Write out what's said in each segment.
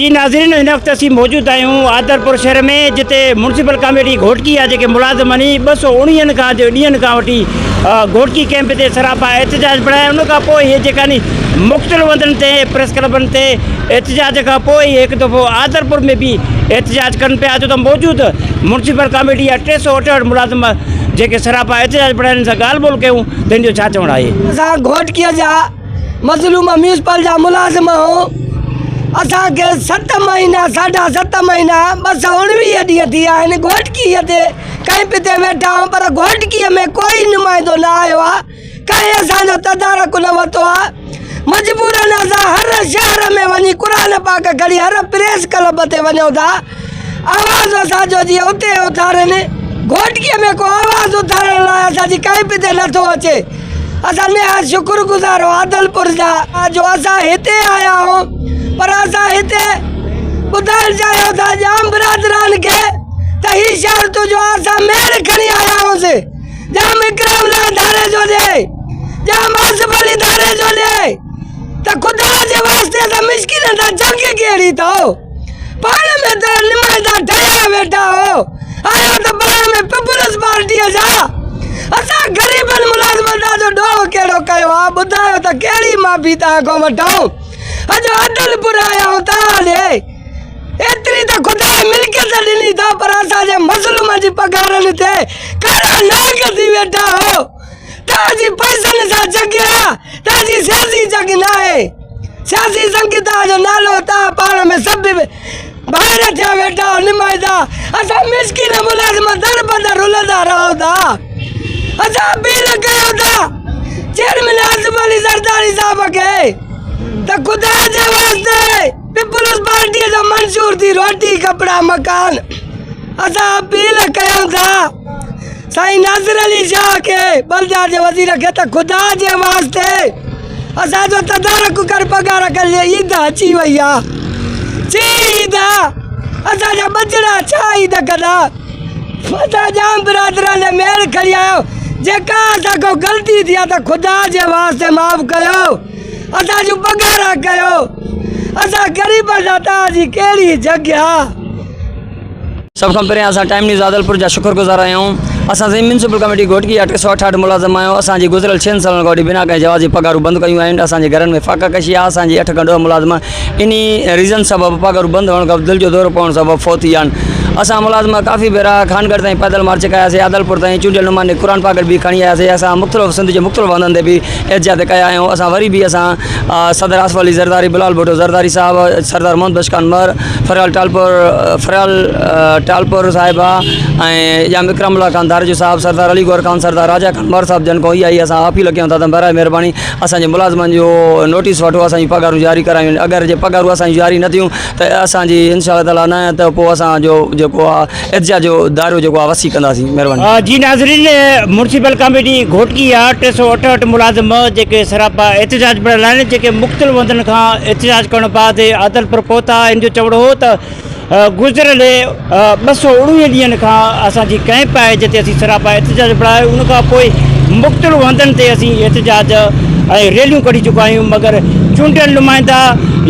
جي ناظرين هن وقت اسين موجود آهيون آدرپور شهر ۾ جتي مونسپل ڪاميٽي گهوٽڪي جا جيڪي ملازمن هي ٻه سؤ اوڻيهن کان جو ڏينهن کان وٺي گهوٽڪي ڪيمپ تي سراپا احتجاج به رهيا ان کان پوء هي جيڪا ني مختلف هنڌن تي پريس کلبن تي احتجاج کان پوء هڪ دفعو آدرپور ۾ به احتجاج ڪن پيا جو ته موجود مونسپل ڪاميٽي جا ٽي سؤ اٺهٺ ملازم جيڪي سراپا احتجاج به رهيا هن سان ڳالهه ٻولهه ڪيون ته هن جو ڇا چوڻ آهي اسان گهوٽڪي جا مظلوم ميونسپل جا ملازم اسان کي ست مهينا ساڍا ست مهينا ٻه سؤ اڻويهه ڏينهن ٿي ويا آهن گهوٽڪي تي ڪئمپ تي ويٺا آهيون پر گهوٽڪي ۾ ڪوئي نمائندو نه آيو آهي ڪنهن اسان جو تدارڪ نه ورتو آهي مجبورن اسان هر شهر ۾ وڃي قرآن پاڪ کڻي هر پريس ڪلب تي وڃون ٿا آواز اسان جو جيئن اتي اٿارين، گهوٽڪيء ۾ ڪو آواز اٿارڻ لاء اسان جي ڪنهن به تي نه ٿو اچي. اسان نهايت شڪر گذار هون عادلپور جا جو اسان هتي آيا هون، پر اسان هتي ٻڌائڻ چاهيون ٿا ڄام برادران کي ته هي شهر تون جو اسان ميڙ کڻي آيا هونسين، ڄام اڪرام لاء ڌاري جو ڏي، ڄام آصف علي ڌاري جو ڏي ته خدا جي واسطي اسان مسڪينن سان جنگ ڪهڙي ٿو. پاڻ ۾ ته نمڻ جا ٺهيا ويٺا هو، آيا ته پاڻ ۾ پيپلز پارٽيء جا. اسان غريبن ملازمن تان جو ڏوهه ڪهڙو ڪيو آ، ٻڌايو ته ڪهڙي معافي توهان کان وٺون؟ اڄ عدل پور آيا آهيون توهان ڏي. ايتري ته خدا ملڪيت ڏني اٿئون پر اسان جي مظلومن جي پگهارن تي ڪارا ناگ ٿي ويٺا هو. توهان جي پئسن سان جڳ آ توهان جي سياسي جڳ ناهي سياسي سنگي توهان جو نالو توهان پاڻ ۾ سڀ ڀائر ٿيا ويٺا آهو نمائندا اسان مسڪين ملازم در بدر رلندا رهون ٿا اسان بيل ڪيو ٿا چيئرمين آصف علي زرداري صاحب کي ته خدا جي واسطي پيپلز پارٽي جو منظور ٿي روٽي ڪپڙا مڪان اسان اپيل ڪيون ٿا سائين ناصر علي شاهه کي بلديات جي وزير کي ته خدا جي واسطي اسان جو تدارڪ ڪر پگهار کي لي عيد اچي وئي آ چي عيد آ اسان جا بچڙا ڇا عيد ڪندا اسان جام برادران جي مير کڻي آيو جيڪا اسان کان غلطي ٿي آ ته خدا جي واسطي معاف ڪيو اسان جون پگهارا ڪيو اسان غريبن سان توهان جي ڪهڙي جهڳيا. سڀ کان پهريان اسان ٽائيم نيوز عادلپور جا شڪر گذار آهيون اسان سنڌ ميونسپل ڪميٽي گهوٽڪي جا ٽي سؤ اٺاهٺ ملازم آهيون اسان جي گذريل ڇهن سالن کان وٺي بنا ڪنهن جواز جي پگهارون بند ڪيون آهن اسان جي گهرن ۾ فاقه ڪشي آهي اسان جي اٺ کان ڏهه ملازم انهي ريزن سبب پگهارون بند هئڻ کان دل جو دورو پوڻ سبب فوت ٿي ويا آهن اسان ملازم ڪافي ڀيرا خانگڙھ تائين پيدل مارچ ڪياسي عادلپور تائين چونڊيل نمائندي قرآن پاڪ به کڻي آياسي اسان مختلف سنڌ جي مختلف هنڌن تي به احتجاج تي ڪيا آهيون اسان وري به اسان صدر آصف علي زرداري بلال ڀٽو زرداري صاحب سردار محمد بشڪان مهر فريال ٽالپور فريال ٽالپور صاحبه ۽ يا وڪرم الله خان ڌارجو صاحب سردار علي گور خان سردار راجا خان مهر صاحب جن کو اها ئي اسان اپيل ڪيون ٿا ته برائي مهرباني اسان جي ملازمن جو نوٽيس وٺو اسان جي پگهارون جاري ڪرايون اگر جي پگهارون اسان جون جاري نه ٿيون ته اسان جي انشاء الله تعالٰي نه ته پوء اسان جو جيڪو آهي ارجاء جو دائرو جيڪو آهي وسيع ڪنداسين مهرباني. جي ناظرين مونسيپل ڪاميٽي گهوٽڪي جا ٽي سؤ اٺهٺ ملازم جيڪي سراپا احتجاج ۾ رهيل آهن جيڪي مختلف هنڌن کان احتجاج ڪرڻ بعد عادلپور پهتا ان جو چوڻ هو ته گذريل ٻه سؤ اڻويهه ڏينهن کان اسان جي ڪئمپ آهي جتي اسين سراپا احتجاج ۾ رهيا ان کان پوء مختلف هنڌن تي اسين احتجاج ۽ ريليون ڪڍي چڪا آهيون مگر چونڊيل نمائندا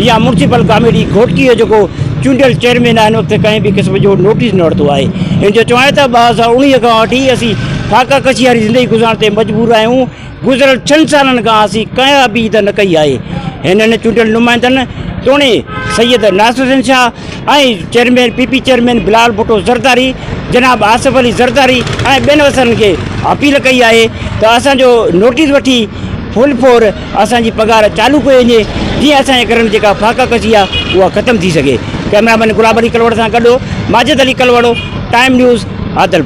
يا مونسيپل ڪاميٽي گهوٽڪي جو جيڪو چونڊيل چيئرمين آهن وقت ڪنهن به قسم جو نوٽيس نه ورتو آهي هن جو چوڻ آهي ته ٻه هزار اوڻيهه کان وٺي اسين فاقه ڪشي واري زندگي گذارڻ تي مجبور آهيون گذريل ڇهن سالن کان اسين ڪنهن ابيد نه ڪئي آهي هنن چونڊيل نمائندن توڻي Syed Nasir Hussain Shah ۽ chairman P P chairman Bilal Bhutto Zardari جناب آصف علي زرداري ۽ ٻين وسرن کي اپيل ڪئي آهي ته اسان جو نوٽيس وٺي فل فور اسان جي پگهار چالو ڪئي وڃي جيئن اسان جي گهرن جيڪا فاقه ڪشي آ اها ختم ٿي سگهي، ڪئميرا مين گلاب علي ڪلوڙ سان گڏ ماجد علي ڪلوڙ، ٽائيم نيوز، عادلپور.